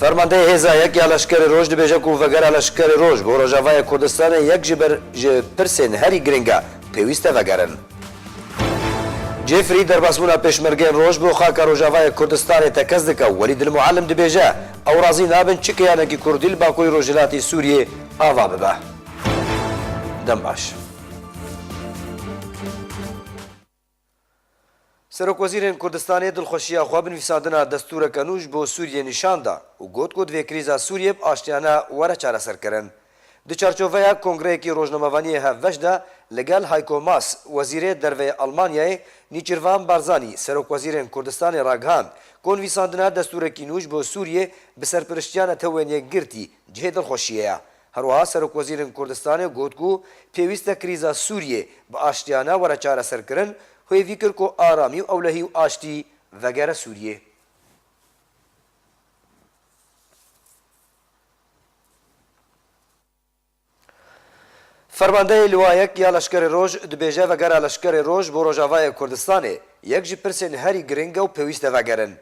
Fermandeyê Hêza Yek ya Leşkerê Roj dibêje ku Vegera Leşkerê Roj bo Rojavayê Kurdistanê yek ji ber ji pirsên herî girîng e, pêwîst e vegerin. Cêfrî derbasbûna Pêşmergeyên Roj bo xaka Rojavayê Kurdistanê tekez dike û Welî Dil Muallim dibêje, Ew razî nabin çi keyanekî Kurdî li Bakurî Rojhilatê Sûriyê ava bibe. Dem baş. Serokwezîrên Kurdistanê dilxweşiya xwe bi nivîsandina destûreke nû ji bo Sûriyê nîşan da û got ku divê krîza Sûriyê bi aştiyane were çareserkirin. Di çarçoveya kongreyekî rojnamevaniyê hevbeş de li gel Hayko Maas, Wezîrê Derve yê Elmanyayê, Nîçîrvan Barzanî, Serokwezîrên Kurdistanê ragihand ku nivîsandina destûrekî nû ji bo Sûriyê bi serpiriştiya netewên yekgirtî cihê dilxweşiyê ye. Herwiha Serokwezîrên Kurdistanê got ku pêwîst e krîza Sûriyê bi aştiyane were çareserkirin, hêvî kir ku aramî û ewlehî û aştî vegere Sûriyê. Fermandeyê Liwayek ya Leşkerê Roj dibêje vegera Leşkerê Roj bo Rojavayê Kurdistanê yek ji pirsên herî giring e û pêwîst e vegerin.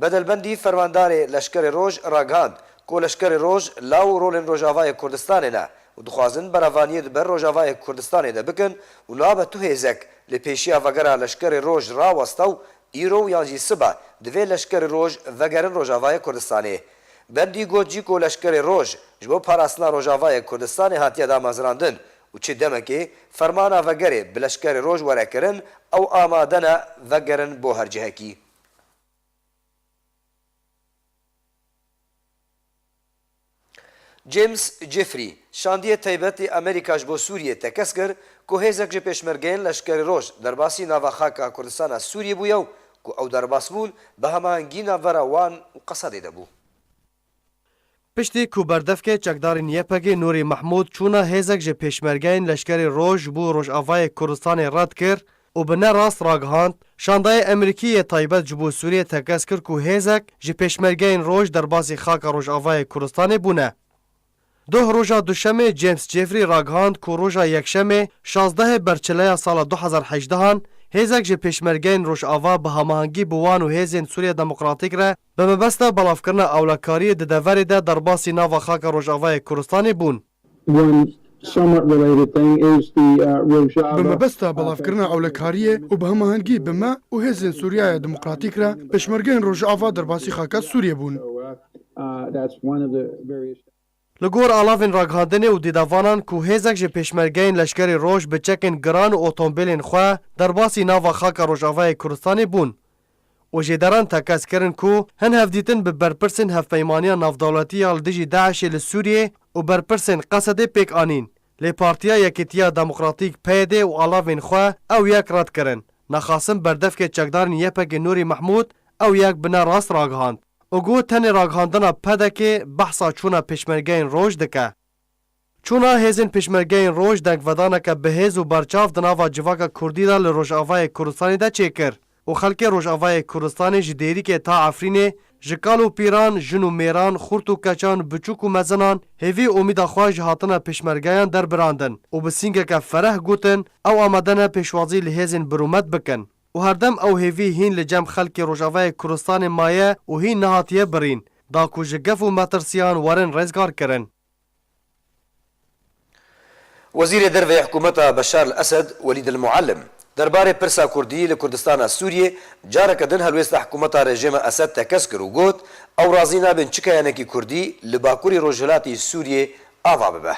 Bedelbendî Fermandarê Leşkerê Roj ragihand ku Leşkerê Roj law û rolên Rojavayê Kurdistanê ne û dixwazin berevaniyê di ber Rojavayê Kurdistanê de bikin û nabe tu hêzek lê pêşiya vegera Leşkerê Roj raweste û îro û yan jî sibe divê Leşkerê Roj vegerin Rojavayê Kurdistanê. Bendî got jî ku Leşkerê Roj ji bo parastina Rojavayê Kurdistanê hatiye damezirandin û çi demekê fermana vegerê bi Leşkerê Roj were kirin ew amade ne vegerin bo her cihekî. James Jeffrey, şandiyê taybetê Amerîka ji bo Sûriyê tekez kir ku hêzek ji pêşmergeyên Leşkerê Roj derbasî nava xaka Kurdistana Sûriyê bûye û ku ew derbas bûn bi hemahengî navbera wan û Qesadê de bû. Piştî ku berdevkê çekdarên YPG'ê Nûrî Mehmûd çûna hêzek ji pêşmergeyên Leşkerê Roj bû Rojavayê Kurdistanê red kir û bi ne rast ragihand, şandayê Emerîkî yê taybet ji bo Sûriyê tekez kir ku hêzek ji pêşmergeyên Roj derbasî xaka Rojavayê Kurdistanê bûne. Doh roja Duşemê James Jeffrey ragihand ku roja Yekşemê şazdehê berçileya sala du hezar hejdehan hêzek ji pêşmergeyên Rojava bi hamahengî bi wan û hêzên Sûriya Demokratîk re bi mebesta belavkirina ewlekariyê di deverê de derbasî nava xaka Rojavayê Kurdistanê bûn. Wan somewhat related thing is the Rojava Bi mebesta belavkirina ewlekariyê û bi hamahengî bi me û hêzên Sûriyaya Demokratîk re pêşmergeyên Rojava derbasî xaka Sûriyê bûn. Li gor alavên ragihandinê û dîdavanan ku hêzek ji pêşmergeyên leşkerî roj bi çekên giran û otombêlên xwe derbasî nava xaka Rojavayê Kurdistanê bûn û jêderan tekez kirin ku hin hevdîtin bi berpirsên Hevpeymaniya Navdewletî ya li dijî DAIŞ'ê li Sûriyê û berpirsên Qesedê pêk anîn, lê Partiya Yekîtiya Demokratîk, PYD, û alavên xwe ew yek red kirin. Naxasim berdevkê çekdarên YPG'ê Nûrî Mehmûd ew yek bi ne rast ragihand. Û got tenê ragihandina PDK'ê behsa çûna pêşmergeyên roj dike. Çûna hêzên pêşmergeyên roj dengvedaneke bihêz û berçav di nava civaka kurdî de li Rojavayê Kurdistanê de çêkir û xelkê Rojavayê Kurdistanê ji Dêrikê ta Efrînê ji kal û pîran, jin û mêran, xurt û keçan, biçûk û mezinan hêvî umîda xwe ji hatina pêşmergeyan derbirandin û bi sîngeke fereh gotin ew amade ne pêşwazî li hêzên birûmet bikin. û herdem ew hêvî hîn li cem xelkê Rojavayê Kurdistanê maye û hîn nehatiye birîn, da ku ji gef û metirsîyan werin rêzgar kirin. Wezîrê Derve yê Hikûmeta Beşar li Esed Welîd El Muallim derbarê pirsa Kurdî li Kurdistana Sûriyê careke din helwêsta hikûmeta rejêma Esed tekez kir û got, Ew razî nabin çi keyanekî Kurdî li bakurî rojhilatî Sûriyê ava bibe.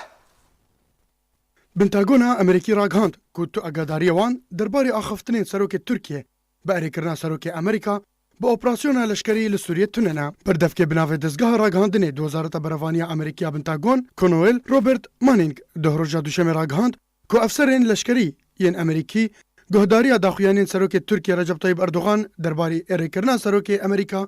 Pentagona Amerîkî ragihand ku tu agadariyê wan derbarê axaftinên serokê Tirkiyê bi erêkirina serokê Amerîka bi operasyona leşkerî li Sûriyê tune ne. Berdevkê bi navê Dezgeha Ragihandinê di Wezareta Berevaniye ya Amerîkî ya Pentagon, Konoel, Robert Manning duh roja Duşemê ragihand ku efserên leşkerî yên Amerîkî guhdariya daxuyanên serokê Tirkiyê Recep Tayyîp Erdogan derbarê erêkirina serokê Amerîka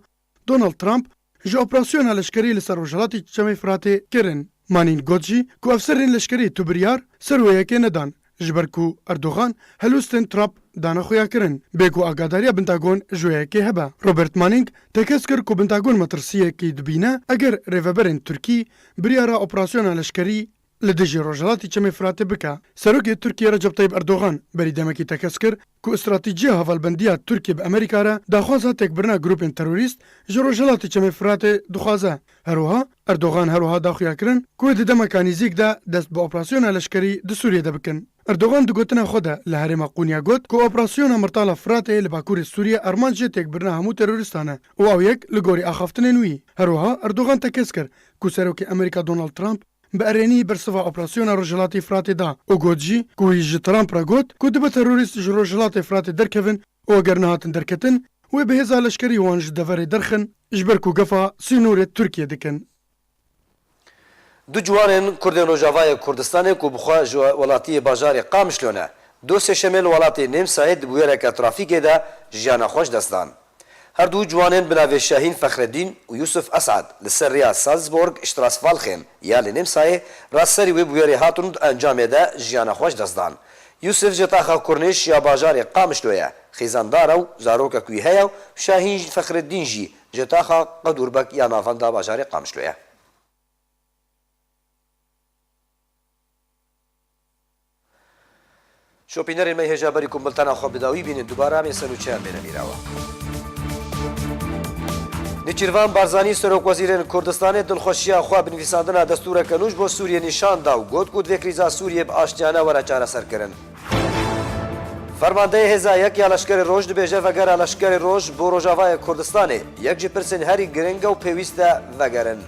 Donald Trump ji operasyona leşkerî li ser rojhilatê çemê Firatê kirin. Manîn got jî ku efserên leşkerî tu biryar ser wê yekê nedan ji ber ku Erdogan helwestên Trump dana xuya kirin bê ku agadariya Bintagon ji wê yekê hebe. Robert Manîng tekez kir ku Bintagon metirsiyekî dibîne eger rêveberên Tirkî biryara operasyona leşkerî li dijî Rojhilatî Çemê Firatê bike. Serokê Tirkiyê Recep Tayîp Erdogan berî demekî tekez kir ku stratîjiya hevalbendiya Tirkiyê bi Amerîka re daxwaza têkbirina grûpên terorîst ji Rojhilatê Çemê Firatê dixwaze. Herwiha Erdogan her wiha daxuya kirin ku di demeka nîzîk de dest bi operasyona leşkerî di Sûriyê de bikin. Erdogan di gotina xwe de li herêma Qonya got ku operasyona Mirtala Firatê li bakurê Sûriyê armanc jê têkbirina hemû terorîstan e û ew yek li gorî axaftinên wî. Herwiha Erdogan tekez kir ku Serokê Amerîka Donald Trump, Bi erênî bersiva operasyona Rojhilatê Firatê da û got jî ku wî ji Trump re got ku dibe terorîst ji Rojhilatê Firatê derkevin û eger nehatin derketin, wê bi hêza leşkerî wan ji deverê derxin ji ber ku gefa sînorê Tirkiyê dikin. Du ciwanên Kurdên Rojavayê Kurdistanê ku bi xwe ji welatiyê bajarê Qamişlo ne, doh sêşemê li welatê Nêmsayê di bûyereke trafîkê de jiyana xwe ji dest dan. Her du ciwanên bi navê Şahîn Fexredîn û Yûsuf Esad li ser rêya Salzburg, Strassvalchen ya li Nêmsayê re serî wê bûyerê hatin û di encamê de jiyana xwe ji dest dan. Yûsuf ji taxa Kurnêş ya bajarê Qamişlo ye, xizandar e û zarokek wî heye û Şahîn Fexredîn jî ji taxa Qedûrbek ya navenda bajarê Qamişlo ye. Şopînerên me hêja berî ku biltena xwe bi dawî bînin dubare em ê ser û çeyan bêne mîrawa. Nêçîrvan Barzanî Serokwezîrên Kurdistanê dilxweşiya xwe bi nivîsandina destûreke nû ji bo Sûriyê nîşan da û got ku divê krîza Sûriyê bi aştiyane were çareserkirin. Fermandeyê Hêza Yek ya Leşkerê Roj dibêje vegera Leşkerê Roj bo Rojavayê Kurdistanê, yek ji pirsên herî giring e û pêwîst e vegerin.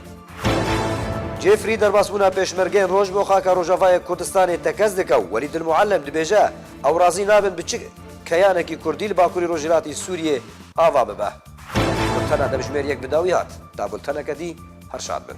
Jeffrey derbasbûna pêşmergeyên roj bo xaka Rojavayê Kurdistanê tekez dike û Welîd El Muallem dibêje, ew razî nabin bi çi keyanekî Kurdî li Bakurî Rojhilatî Sûriyê ava bibe. Bultena demjimêr yek bi dawî hat. Ta bulteneke dî. Her şad bin.